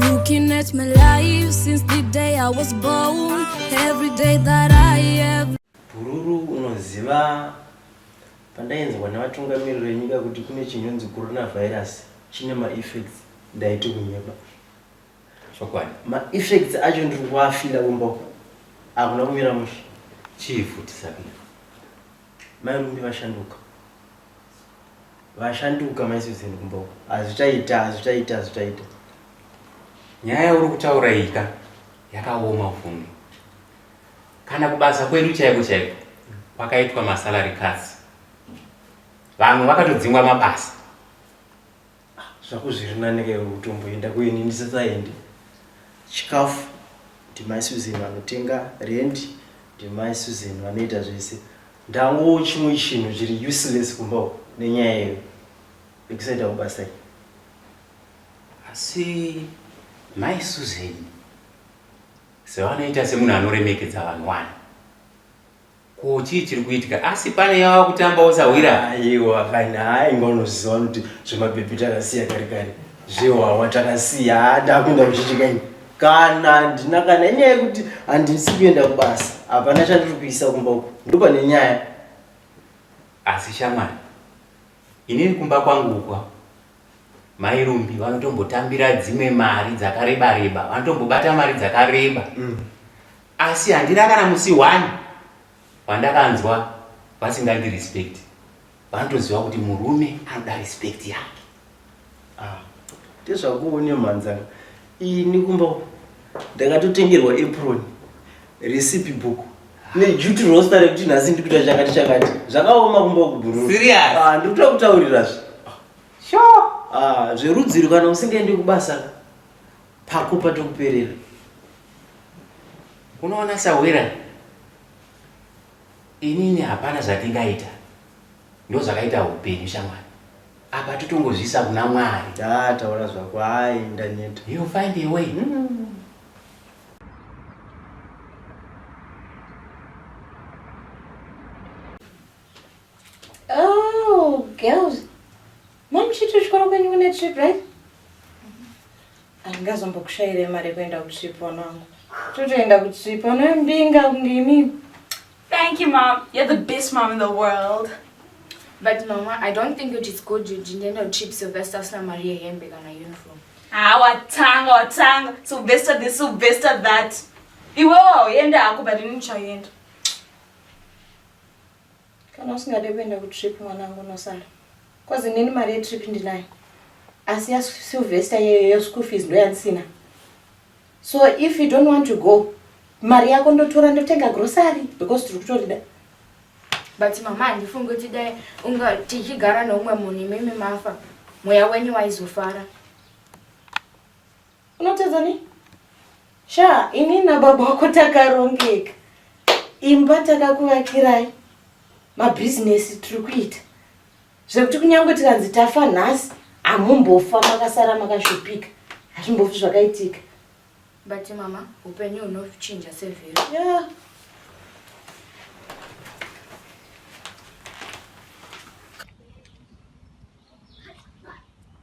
Looking at my life since the day I was born Every day that I have Bhururu unoziva pandainzwa nevatungamiriri venyika kuti kune chinonzi coronavirus chine maeffects ndaiti kunyeba chokwadi maeffects acho ndiri kuafila kumba uku akuna kumira mushe chii futi sabira Mai Mumbi vashanduka. Vashanduka mai Susan kumba uko. Hazvichaita, hazvichaita, hazvichaita. Nyaya yauri kutaura iyi ka yakaoma Vumi. Kana kubasa kwedu chaiko chaiko kwakaitwa masalary cuts. Vamwe vakatodzingwa mabasa. Ah, zvako zviri nani ka iwe kutomboenda kuini ndisasaende. Chikafu ndimai Susan vanotenga, rent ndimai Susan vanoita zvese. Ndangowo chimwe chinhu chiri useless kumba uko nenyaya yeyo yekusaenda kubasa iyi. Asi mai Susan sevanoita semunhu anoremekedza vanhu wani ko chii chiri kuitika asi pane yava kutamba usahwira aiwa kana aingonoziva kuti zvemabhebhi takasiya kari kari zvewawa takasiya hada kuenda kuchichika ini kana ndina kana inyaya yekuti handisi kuenda kubasa hapana chandiri kuisa kumba uku ndopane nyaya asi shamwari inini kumba kwangu ukwa Mai Rumbi vanotombotambira dzimwe mari dzakareba reba, vanotombobata mari dzakareba. Mm. Asi handina kana musi one wandakanzwa vasingandi respect. Vanotoziva kuti murume anoda respect yake. Ah. Ndezvakuone mhanzanga. Ini kumba uko ndakatotengerwa apron, recipe book nejuti rosta rekuti nhasi ndiri kuita chakati chakati. Zvakaoma kumba uku bhururu. Serious? Ah, ndiri kuda kutaurirazve. Sure. Ah, zverudziro kana usingaendi kubasa pako patokuperera. Unoona Sahwira, inini hapana zvatingaita, ndozvakaita upenyu shamwari. apa totongozviisa kuna mwari daa taura zvako hayi ndaneta you find a way mm. Oh, girls. Mom, she took you when you went on a trip, right? Andingazombokushaire mari yekuenda kutrip wanangu. Totoenda kutrip, anoyambinga kunge imimi. Thank you mom, you're the best mom in the world. But mama, I don't think it is good you didn't know cheap Sylvester sina Maria hembe kana uniform. Ah, watanga watanga. Sylvester this, Sylvester that. Iwe wauenda hako but ini ndichaenda. Kana usingade kuenda kutrip mwanangu unosara. Cause inini mari yetrip ndinayo. Asi ya Sylvester yeyo yeschool fees ndoyandisina. So if you don't want to go mari yako ndotora ndotenga grocery because tiri kutorida but mama handifungi kuti dai unga tichigara neumwe munhu imimi mafa mweya wenyu waizofara unotedza ni sha ini nababa wako takarongeka imba takakuvakirai mabhizinesi tiri kuita zvekuti kunyange tikanzi tafa nhasi hamumbofa makasara makashupika hazvimbofi zvakaitika but mama upenyu hunochinja sevhero yeah.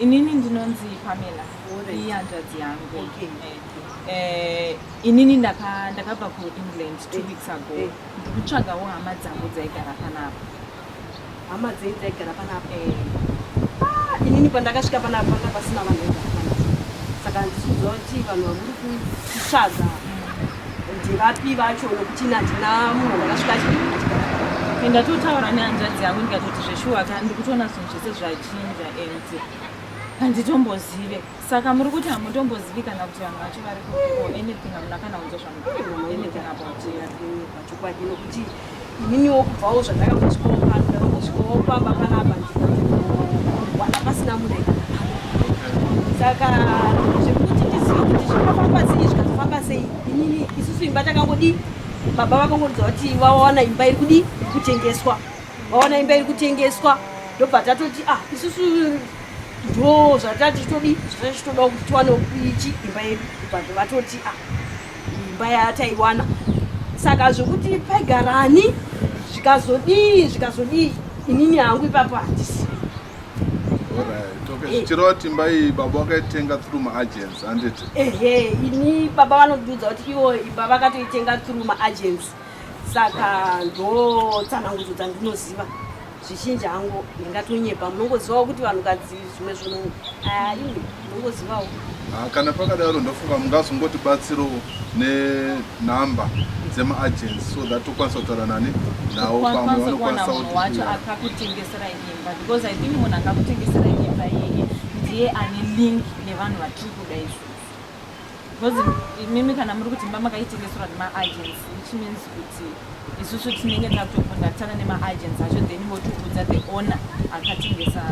Inini ndinonzi Pamela iyi hanzvadzi yangu okay. Eh, eh, inini ndakabva ndaka kuengland two eh, weeks ago eh. ndikutsvagawo eh. hama dzangu dzaigara panapa hama dzei dzaigara panapa eh. ah, inini pandakasvika panapa panga pasina vanhu vaigara panapa saka ndisikuziva kuti vanhu vamuri kutsvaga mm. ndivapi vacho nokuti nandina munhu ndakasvika achigara ndatotaura nehanzvadzi yangu ndikatoti zveshuwa ka ndikutoona zvese zvachinja and handitombozive saka muri kuti hamutombozivi kana kuti vanhu vacho vari kuo anything hamuna kana kunzwa zvamuanything about pachokwadi nokuti ininiwo kubvawo zvandakakusvikowopakusvikowopa bapana apa ndiwana pasina munhu saka zvekuti ndizive kuti zvinofamba sei zvikazofamba sei inini isusu imba takangodii baba vakangoridza kuti vawana imba iri kudii kutengeswa vaona imba iri kutengeswa ndobva tatoti ah isusu ndo zvatati todi zvatichitodawo kuti tiwane ichi imba yedu bvazve vatoti ah imba yataiwana saka zvekuti paigarani zvikazodii zvikazodii inini hangu ipapo handisi eh. chirova timba iyi baba vakaitenga through maagents handiti ehe ini baba vanondiudza kuti ivo imba vakatoitenga through maagents saka ndotsanangudzo dzandinoziva zvizhinji hangu ndingatonyepa munongozivawo kuti vanhukadzi zvimwe zvono aini munongozivawo ah, kana pakadaro ndofunga mungazongoti batsirowo nenhamba dzemaagency so that tokwanisa kutaura nani nawo pamwe vanokwanisawacho akakutengeserai imba because i think munhu akakutengeserai imba yeye ndiye ane link nevanhu vatiri kuda izvo because imimi kana muri kuti mama kaitengeserwa nemaagents which means kuti isusu tinenge takutokondaktana nemaagents acho then votiudza the owner akatengesa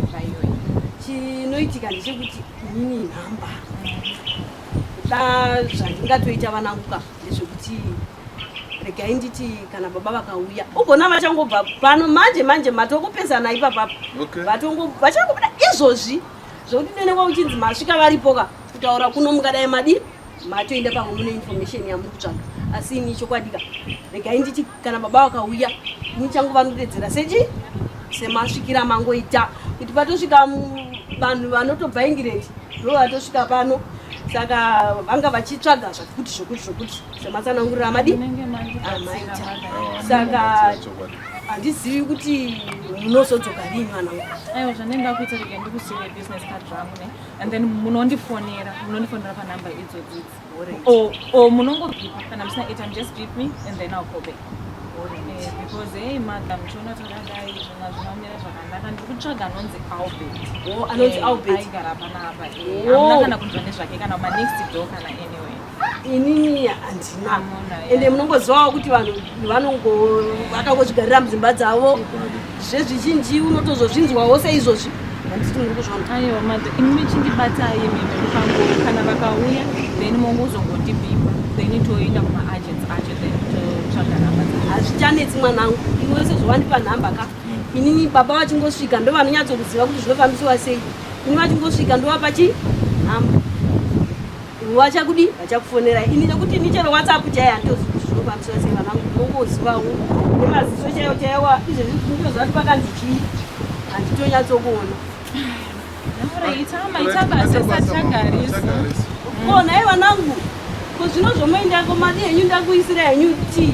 zvaiyoyi chinoitika ndechekuti inini nhamba da zvandingatoita vananguka ndezvekuti regai nditi kana baba vakauya ugona vachangobva pano manje manje matokupesana ipapapa vachangobuda izvozvi Zvekuti nene kwauchinzi masvika varipoka kutaura kuno mungadai madi matoenda pamwe mune information yamuri kutsvaga asi ini chokwadika regai nditi kana baba vakauya ini changu vanotedzera sechi semasvikira mangoita kuti patosvika vanhu vanotobva ingireti ndo vatosvika pano saka vanga vachitsvaga zvakuti zvokuti zvokuti sematsanangurira madi amaita saka handizivi kuti munozodzoka rini mwana wangu aiwa zvandenge ndakuita rega ndikusiire business card rangu ne and then munondifonera munondifonera panumber idzo dzidzi o munongobipa kana musina airtime just beep me and then i'll call back eh, because hey mother muchiona takadai zvina zvinomira zvakanaka ndiri kutsvaga anonzi albert anonzi eh, albert aigara panapa eh, amuna kana kunzwa nezvake kana manext door kana anyway inini handina ende munongozivawo kuti vanhu vanongo vakangozvigarira mudzimba dzavo zvezvizhinji unotozozvinzwawo seizvozvi handiti muri kuzvona aiwa mada imi michindibatai mimepangoro kana vakauya then mongozongotibipa then toenda kumaagents acho then totsvaga nhamba hazvichanetsi mwanangu iwe wese zvawandipa nhamba ka inini baba vachingosvika ndo vanonyatsokuziva kuti zvinofambisiwa sei ini vachingosvika ndovapa chi nhamba vachakudi vachakufonera ini nekuti ini chero whatsapp chaiye handitozi kuti zvinofambiswa sei vana vangu ndongozivawo nemaziso chaiyo chaiwa izvezvi ndozvati pakanzi chii handitonyatsokuona ko nhai vanangu ko zvino zvomoindako madi henyu ndakuisira henyu tii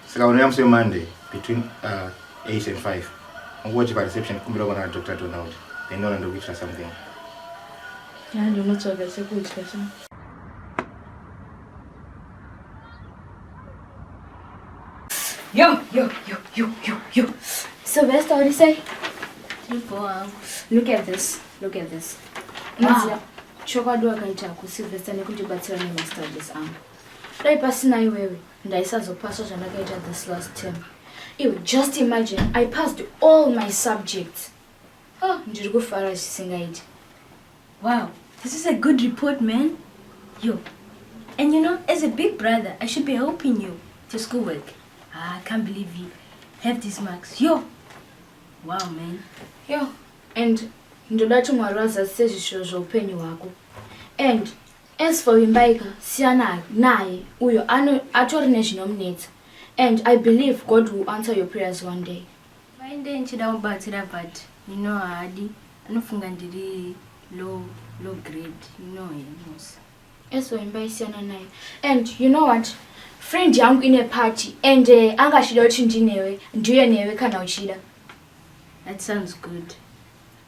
Saka unouya musi weMonday between uh, 8 and 5. Ungochi pareception kumbira kuona naDr Donald. Then ndona ndokuitira something. Ya ndonotsvaga chekudya cha. Yo, yo, yo, yo, yo, yo. Sylvester, what do you say? Look at this. Look at this. Wow. Chokwadi wakaita kuSylvester nekundibatsira nemastudies angu. Dai pasina iwewe. ndaisazopasa zvandakaita this last term iwe just imagine i passed all my subjects oh, ndiri kufara zvisingaiti wow this is a good report man yo and you know as a big brother i should be helping you to school work ah, i can't believe you have these marks yo wow man yo and ndoda kuti mwari vazadzise zvishuwo zveupenyu hwako and As for Vimbai ka siyana naye uyo ano atori nezvinomunetsa and I believe God will answer your prayers one day. Vimbai ndiye ndichida kubatsira but you know haadi anofunga ndiri low low grade you know him Musa. As for Vimbai siyana naye and you know what friend yangu ine party and uh, anga achida kuti ndinewe ndiuye newe kana uchida. That sounds good.